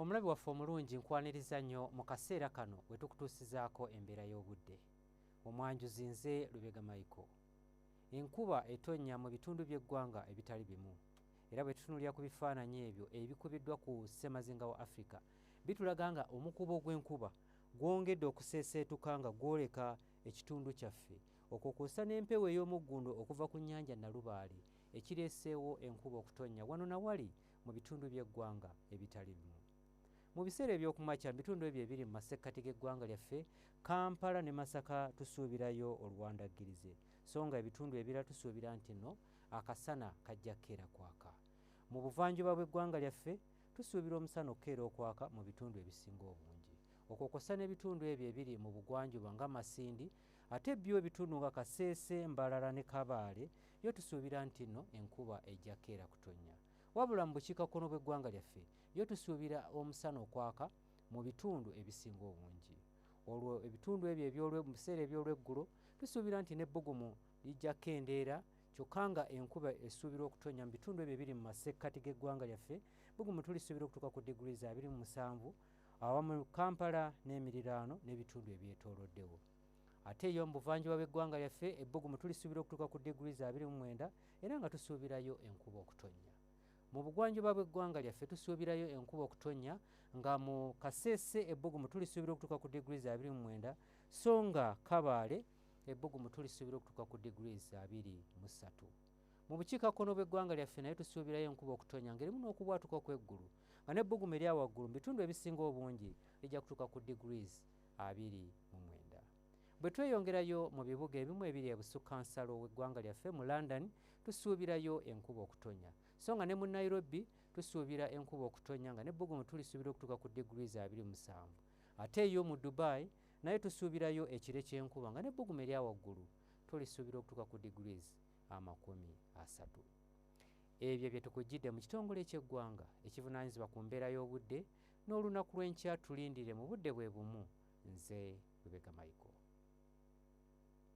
omulabi waffe omulungi nkwaniriza nnyo mu kaseera kano we tukutuusizaako embeera y'obudde omwanjuzi nze lubega maiko enkuba etonnya mu bitundu by'eggwanga ebitali bimu era bwe tutunulira ku bifaananyi ebyo ebikubiddwa ku ssemazinga wa afirika bitulaga nga omukubo gw'enkuba gwongedde okuseeseetuka nga gwoleka ekitundu kyaffe okwo kwosa n'empewo ey'omuggundu okuva ku nnyanja nalubaale ekireeseewo enkuba okutonnya wano na wali mu bitundu by'eggwanga ebitali bimu. Mu biseera eby'okumakya mu bitundu ebyo ebiri mu masekkati g'eggwanga lyaffe, Kampala ne Masaka tusuubirayo oluwandaggirize so nga ebitundu ebirala tusuubira nti no akasana kajja kukeera kwaka. Mu buvanjuba bw'eggwanga lyaffe tusuubira omusana okukeera okwaka mu bitundu ebisinga obungi. Okwo kwossa n'ebitundu ebyo ebiri mu bugwanjuba nga Masindi Ate byo ebitundu nga Kasese, Mbarara ne Kabaale yo tusuubira nti no enkuba ejja keera kutonnya. Wabula mu bukiikakkono bw'eggwanga lyaffe yo tusuubira omusana okwaka mu bitundu ebisinga obungi. Olwo ebitundu ebyo mu biseera eby'olweggulo tusuubira nti n'ebbugumu lijja kendeera kyokka nga enkuba esuubirwa okutonnya mu bitundu ebyo ebiri mu masekkati g'eggwanga lyaffe bbugumu tulisuubira okutuuka ku diguli za 27 awamu Kampala n'emiriraano n'ebitundu ebyetooloddewo. Ate yo mu buvanjuba bw'eggwanga lyaffe ebbugumu tulisuubira okutuuka ku degrees 29 era nga tusuubirayo enkuba okutonnya. Mu bugwanjuba bw'eggwanga lyaffe tusuubirayo enkuba okutonnya nga mu Kasese ebbugumu tulisuubira okutuuka ku degrees 29 so nga Kabaale ebbugumu tulisuubira okutuuka ku degrees 23. Mu bukiikakkono bw'eggwanga lyaffe nayo tusuubirayo enkuba okutonya ng'erimu n'okubwatuka okw'eggulu nga n'ebbugumu erya waggulu mu bitundu ebisinga obungi lijja kutuuka ku degrees abiri mu mwenda. Bwe tweyongerayo mu bibuga ebimu ebiri ebusukkansalo w'eggwanga lyaffe mu London tusuubirayo enkuba okutonya so nga ne mu Nairobi tusuubira enkuba okutonya nga n'ebbugumu tulisuubira okutuuka ku degrees abiri musanvu ate yo mu Dubai naye tusuubirayo ekire ky'enkuba nga n'ebbugumu erya waggulu tulisuubira okutuuka ku degrees amakumi asatu. Ebyo bye tukujjidde mu kitongole eky'eggwanga ekivunaanyizibwa ku mbeera y'obudde n'olunaku lw'enkya tulindire mu budde bwe bumu nze Lubega Michael.